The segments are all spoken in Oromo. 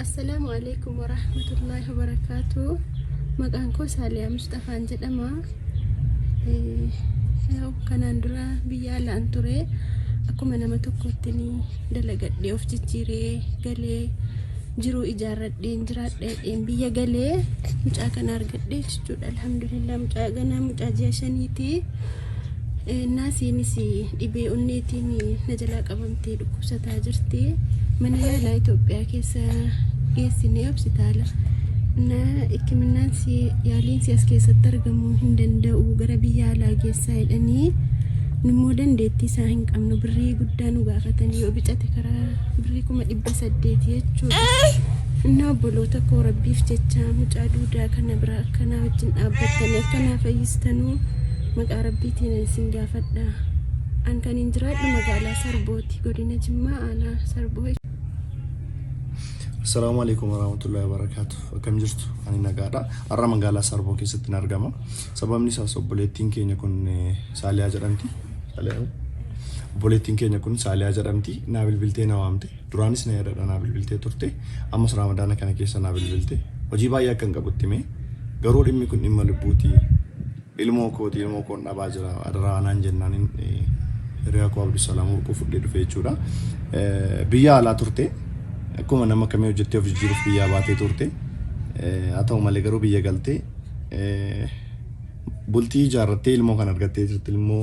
Assalaamu alaikum warahmatullahi wabarakaatu. Maqaan koo Saaliyaa Musxafaan jedhama. Eh, yaa'u Kanaan dura biyya alaan ture akkuma nama tokkotti ni dalagadhee of jijjiiree galee jiruu ijaarradheen jiraadheen biyya galee mucaa kana argadhee jechuudha. Alhamdulillah mucaa ganaa mucaa ji'a shaniiti. Eh, Naasiinis Dhibee onneetiin na jalaa qabamtee dhukkubsataa jirti. Mana yaalaa Itoophiyaa keessa geessinee hospitaala na hikiminnaan si yaaliin si as keessatti argamuu hin danda'u gara biyya alaa geessaa jedhanii nummoo dandeettii isaa hin qabnu birrii guddaa nu gaafatanii yoo bicate karaa birrii kuma dhibba saddeeti jechuudha. Innaa obboloota koo rabbiif jecha mucaa duudaa kana biraa akkanaa wajjin dhaabbattanii akkanaa fayyistanuu Maqaa Rabbiitiinan isin gaafadha. An kanin jiraadhu magaalaa Sarbooti, godina Jimmaa aanaa Sarboo. Assalaamu alaikum warahmatullahi wabarakatuh. Akkam jirtu? Ani nagaadha. Har'a magaalaa Sarboo keessatti hin argama. Sababni isaas obboleettiin keenya kun eh, Saaliyaa jedhamti. Saaliyaa moo? Obboleettiin keenya kun Saaliyaa jedhamti. Naa bilbiltee na waamte. Duraanis na yaadadha naa bilbiltee turte. Ammas Raamadaana kana keessa naa bilbilte. Hojii baay'ee akkan qabutti mee garuu dhimmi kun dhimma lubbuuti. Ilmoo kooti ilmoo koon dhabaa jira adaraa anaan jennaanin hiriyaa koo Abdusalaam Warquu fudhee dhufe jechuudha. Biyya alaa turte akkuma nama kamii hojjettee of jijjiiruuf biyyaa baatee turte. Haa ta'u malee garuu biyya galtee bultii ijaarrattee ilmoo kan argattee jirti ilmoo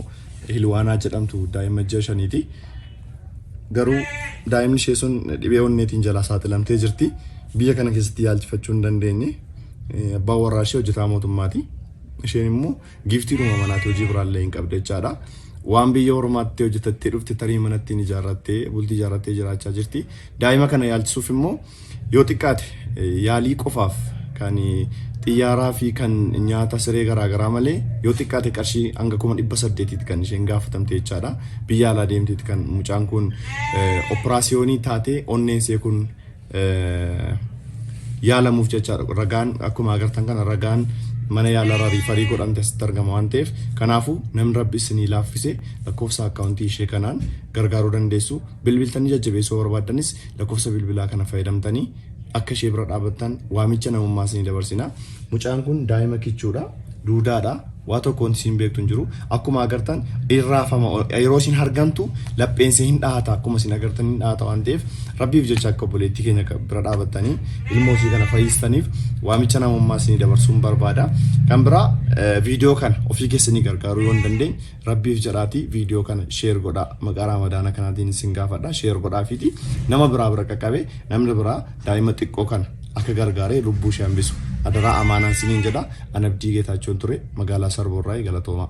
Hilwaanaa jedhamtu daa'ima ji'a shaniiti. Garuu daa'imni ishee sun dhibee onneetiin jalaa saaxilamtee jirti. Biyya kana keessatti yaalchifachuu hin dandeenye. Abbaan warraa ishee hojjetaa mootummaati. Isheen immoo giiftiidhuma manaati hojii biraallee hin qabdu jechaadha. Waan biyya ormaatti hojjetattee dhufte tarii manatti hin ijaarrattee bultii ijaarrattee jiraachaa jirti. Daa'ima kana yaalchisuuf immoo yoo xiqqaate yaalii qofaaf kan xiyyaaraa fi kan nyaata siree garaagaraa malee yoo xiqqaate qarshii hanga kuma dhibba saddeetiitti kan isheen gaafatamte jechaadha. Biyya alaa deemteetti kan mucaan kun operaasiyoonii taatee onneen see kun yaalamuuf jechaadha. Ragaan akkuma agartan kana ragaan mana yaalarraa riifarii godhamte asitti argama waan ta'eef kanaafuu namni rabbi isinii laaffise lakkoofsa akkaawuntii ishee kanaan gargaaruu dandeessu bilbiltanii jajjabeessuu barbaaddanis lakkoofsa bilbilaa kana fayyadamtanii akka ishee bira dhaabattan waamicha namummaa isinii dabarsina. Mucaan kun daa'ima kichuudha duudaadha. Waa tokko wanti isiin beektu hin jiru. Akkuma agartan in raafama. Yeroo isiin hargantu lapheen isee hin dhahata akkuma isiin agartan hin dhahata waan ta'eef Rabbiif jecha akka obboleettii keenya ka- bira dhaabattanii ilmoo isii kana fayyistaniif waamicha namummaa isinii dabarsuun barbaada. Kan biraa eh, viidiyoo kana ofii keessanii gargaaruu yoo hin dandeenye Rabbiif jedhaatii viidiyoo kana sheer godhaa maqaa raamadaana kanaatiin isin gaafadha sheer godhaafiiti nama biraa bira qaqqabee namni biraa daa'ima xiqqoo kana akka gargaaree lubbuu ishee hambisu adaraa amaanaan siniin jedha an abdii geetaachoon ture magaalaa sarboorraa galatoomaa.